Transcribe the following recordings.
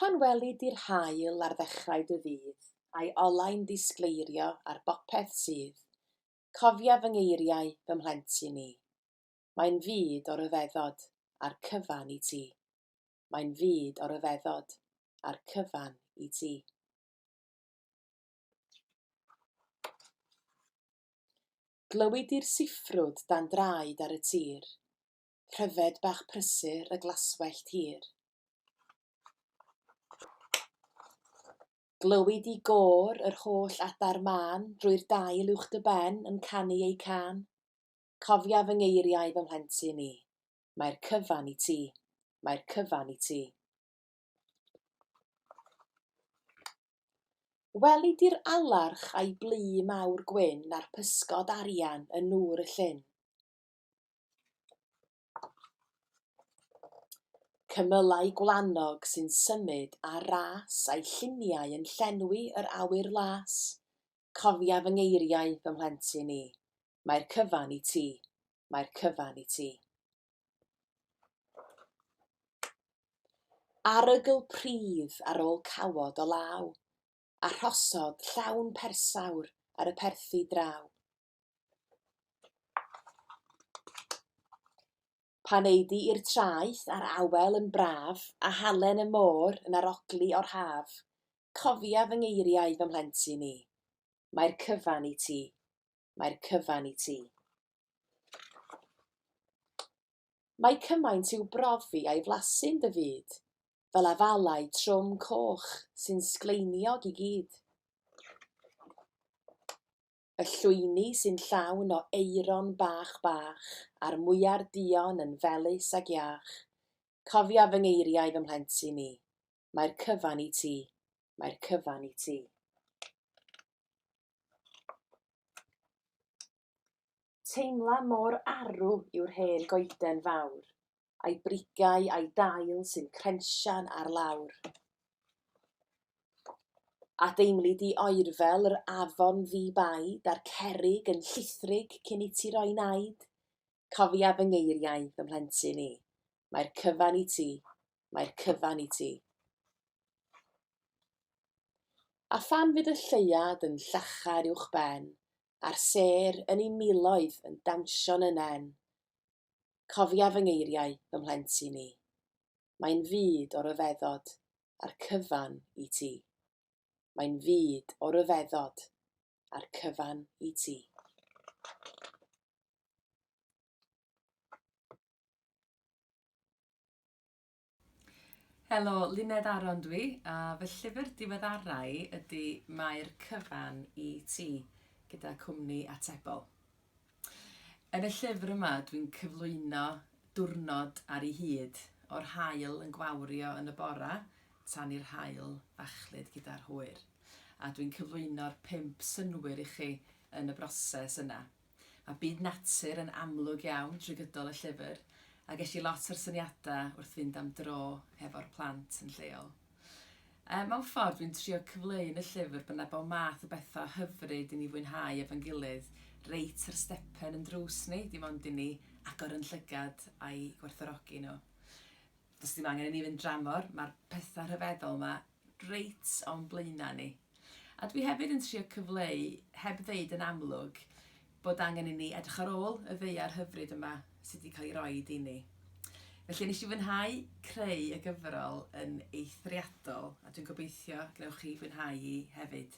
Pan weli di'r haul ar ddechrau dy ddydd, a'i olau'n ddisgleirio ar bopeth sydd, cofia fy ngeiriau, fy mhlentyn i. Mae'n fyd o ryfeddod, a'r cyfan i ti. Mae'n fyd o ryfeddod, a'r cyfan i ti. Glywid di'r siffrwd dan draed ar y tir, pryfed bach prysur y glaswellt hir. Glywid di gôr yr holl adar mân drwy'r dail uwch dy ben yn canu eu cân. Cofia fy ngeiriau fy mhlentyn i, mae'r cyfan i ti, mae'r cyfan i ti. Weli di'r alarch a'i blu mawr gwyn a'r pysgod arian yn nŵr y llyn. Cymylau gwlanog sy'n symud â ras a'i lluniau yn llenwi yr awyr las. Cofia fy ngeiriau, fy mhlentyn i, mae'r cyfan i ti, mae'r cyfan i ti. Arogl pridd ar ôl cawod o law, a rhosod llawn persawr ar y perthi draw. Pan eidi i'r traeth a'r awel yn braf, a halen y môr yn arogli o'r haf, cofia fy ngeiriau fy mhlentyn i, mae'r cyfan i ti. mae'r cyfan i ti. Mae cymaint i'w brofi a'i flasu'n dy fyd, fel afalau trwm coch sy'n sgleiniog i gyd. Y llwyni sy'n llawn o eiron bach bach, a'r mwyar dion yn felus ag iach. Cofia fy ngeiriau fy mhlentyn i, Mae'r cyfan i ti. Mae'r cyfan i ti. Teimla mor arw yw'r hen goeden fawr, a'i brigau a'i dail sy'n crensian ar lawr. A deimli di oerfel yr afon ddi-baid a'r cerig yn llithrig cyn i ti roi naid, Cofia fy ngeiriau, fy mhlentyn i. Mae'r cyfan i ti, mae'r cyfan i ti. A phan fydd y lleuad yn llachar uwch ben, a'r sêr yn ei miloedd yn dawnsio'n y nen, Cofia fy ngeiriau, fy mhlentyn i. Mae'n fyd o ryfeddod, a'r cyfan i ti. Mae'n fyd o ryfeddod, a'r cyfan i ti. Helo, Luned Aron dwi, a fy llyfr diweddarau ydy Mae'r cyfan i ti, gyda cwmni Atebol. Yn y llyfr yma, dwi'n cyflwyno diwrnod ar ei hyd, o'r hael yn gwawrio yn y bora, tan i'r hael fachlud gyda'r hwyr. A dwi'n cyflwyno'r pimp synwyr i chi yn y broses yna. a byd natur yn amlwg iawn drwy gydol y llyfr, a ges i lot o'r syniadau wrth fynd am dro hefo'r plant yn lleol. Yy, mewn ffordd, dwi'n trio cyfleu yn y llyfr bod 'na bob math o bethau hyfryd i ni fwynhau efo'n gilydd, reit ar stepen yn drws ni, dim ond i ni agor yn llygad a'i gwerthfawrogi nhw. Does dim angen i ni fynd dramor, mae'r pethau rhyfeddol 'ma reit o'n blaenau ni. A dwi hefyd yn trio cyfleu, heb ddeud yn amlwg, bod angen i ni edrych ar ôl y ddaear hyfryd yma sydd wedi cael ei roed i ni. Felly nes i fwynhau creu y gyfrol yn eithriadol a dwi'n gobeithio gnewch chi fwynhau hi hefyd.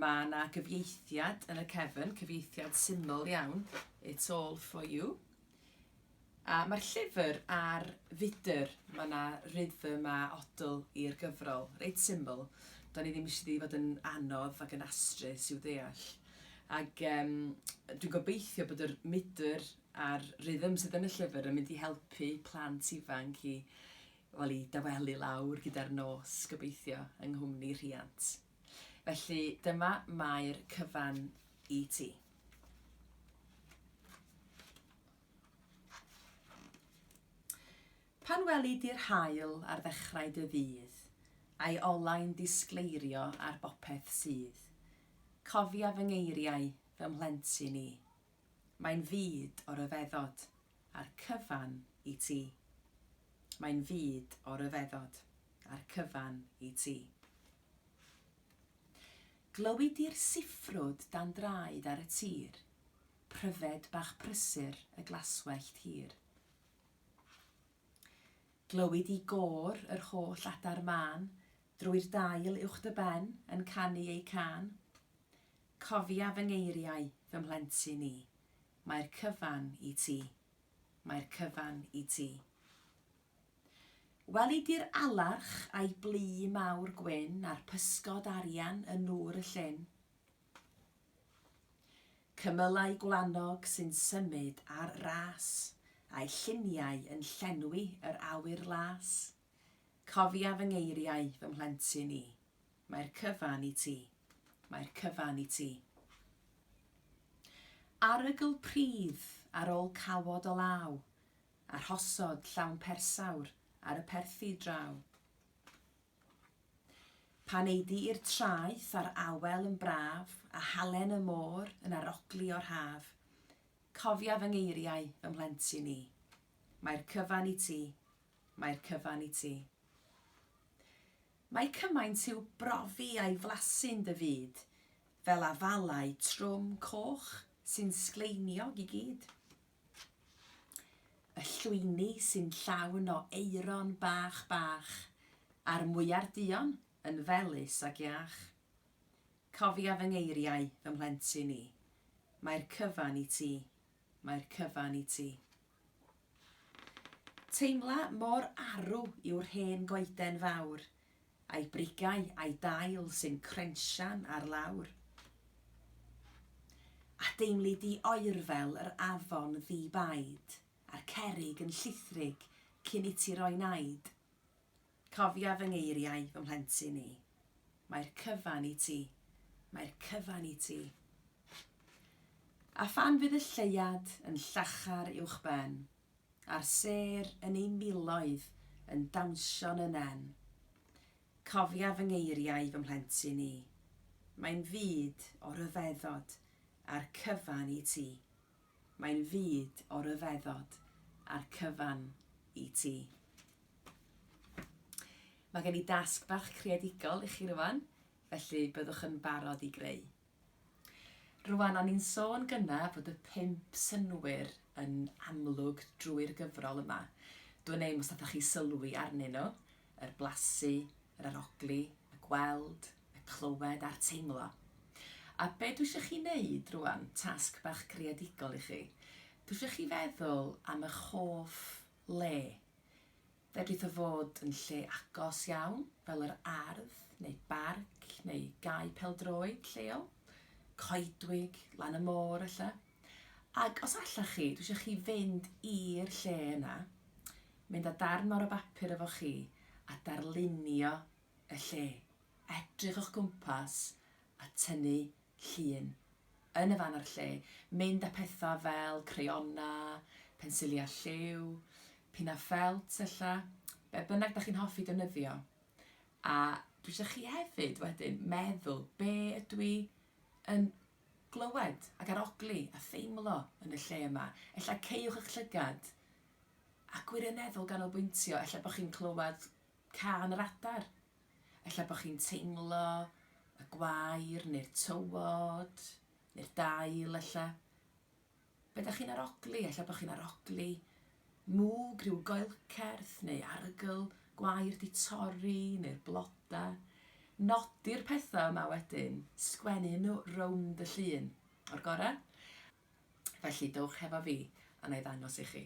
Mae 'na gyfieithiad yn y cefn, cyfieithiad syml iawn, It's all for you. A mae'r llyfr ar fudr, mae 'na rhythm a odl i'r gyfrol, reit syml. Do'n i ddim eisiau di fod yn anodd ac yn astrus i'w ddeall. Ac um, dwi'n gobeithio bod yr mudr a'r rhythm sydd yn y llyfr yn mynd i helpu plant ifanc i, Wel, i dawelu lawr gyda'r nos, gobeithio, yng nghwmni rhiant. Felly, dyma mae'r cyfan i ti. Pan weli di'r haul ar ddechrau dy ddydd, a'i olau'n disgleirio ar bopeth sydd, cofia fy ngeiriau, fy mhlentyn i, Mae'n fyd o ryfeddod a'r cyfan i ti. Mae'n fyd o ryfeddod a'r cyfan i ti. Glywi di'r siffrwd dan draed ar y tir, pryfed bach prysur y glaswellt hir. Glywi di gôr yr holl adar mân drwy'r dail uwch dy ben yn canu eu cân. Cofia fy ngeiriau, fy mhlentyn i, Mae'r cyfan i ti, mae'r cyfan i ti. Weli di'r alarch a'i blu mawr gwyn a'r pysgod arian yn nŵr y llyn? Cymylau gwlanog sy'n symud ar ras, a'i lluniau yn llenwi yr awyr las? Cofia fy ngeiriau, fy mhlentyn i, Mae'r cyfan i ti, mae'r cyfan i ti. Arogl pridd ar ôl cawod o law, A rhosod llawn persawr ar y perthi draw. Pan ei di i'r traeth a'r awel yn braf, A halen y môr yn arogli o'r haf, Cofia fy ngeiriau, fy mhlentyn i, Mae'r cyfan i ti, Mae'r cyfan i ti. Mae cymaint i'w brofi a'i flasu'n dy fyd, fel afalau trwm coch sy'n sgleiniog i gyd. Y llwyni sy'n llawn o aeron bach bach, a'r mwyar duon yn felys ac iach. Cofia fy ngeiriau, fy mhlentyn i, mae'r cyfan i ti, mae'r cyfan i ti. Teimla mor arw yw'r hen goeden fawr, a'i brigau a'i dail sy'n crensian ar lawr. A deimli di oerfel yr afon ddi-baid, a'r cerrig yn llithrig cyn iti roi naid. Cofia fy ngeiriau, fy mhlentyn i. Mae'r cyfan i ti, mae'r cyfan i ti. A phan fydd y lleuad yn llachar uwchben, a'r sêr yn ei miloedd yn dawnsio'n 'y nen, cofia fy ngeiriau, fy mhlentyn i. Mae'n fyd o ryfeddod a'r cyfan i ti. Mae'n fyd o ryfeddod a'r cyfan i ti. Mae gen i dasg bach creadigol i chi rwan, felly byddwch yn barod i greu. Rwan o'n i'n sôn gynna fod y pump synnwyr yn amlwg drwy'r gyfrol yma. Dwn i'm os nathoch chi sylwi arnyn nhw, yr blasu, yr arogli, y gweld, y clywed a'r teimlo. A be dwi isio chi wneud rwan, tasg bach creadigol i chi, dwi isio chi feddwl am eich hoff le. Fedrith o fod yn lle agos iawn, fel yr ardd, neu barc, neu gae pêl-droed lleol, coedwig, lan y môr ella. Ac os allech chi, dwi eisiau chi fynd i'r lle yna, mynd â darn mawr o bapur efo chi a darlunio y lle. Edrych o'ch gwmpas a tynnu llun yn y fan a'r lle. Mynd â pethau fel crayonau, pensiliau lliw, pinnau ffelt ella, be bynnag da chi'n hoffi defnyddio. A dwi eisiau chi hefyd wedyn meddwl be ydw i yn glywed ac arogli a theimlo yn y lle yma. Ella caewch eich llygad a gwirioneddol ganolbwyntio, ella bod chi'n clywed cân yr adar, ella bod chi'n teimlo y gwair neu'r tywod neu'r dail ella. Be dach chi'n arogli? Ella bod chi'n arogli mwg, rhyw goelcerth neu arogl gwair 'di torri neu'r bloda. Nodi'r pethau yma wedyn, sgwennu nhw rownd y llun, o'r gore? Felly dowch hefo fi a na i ddangos i chi.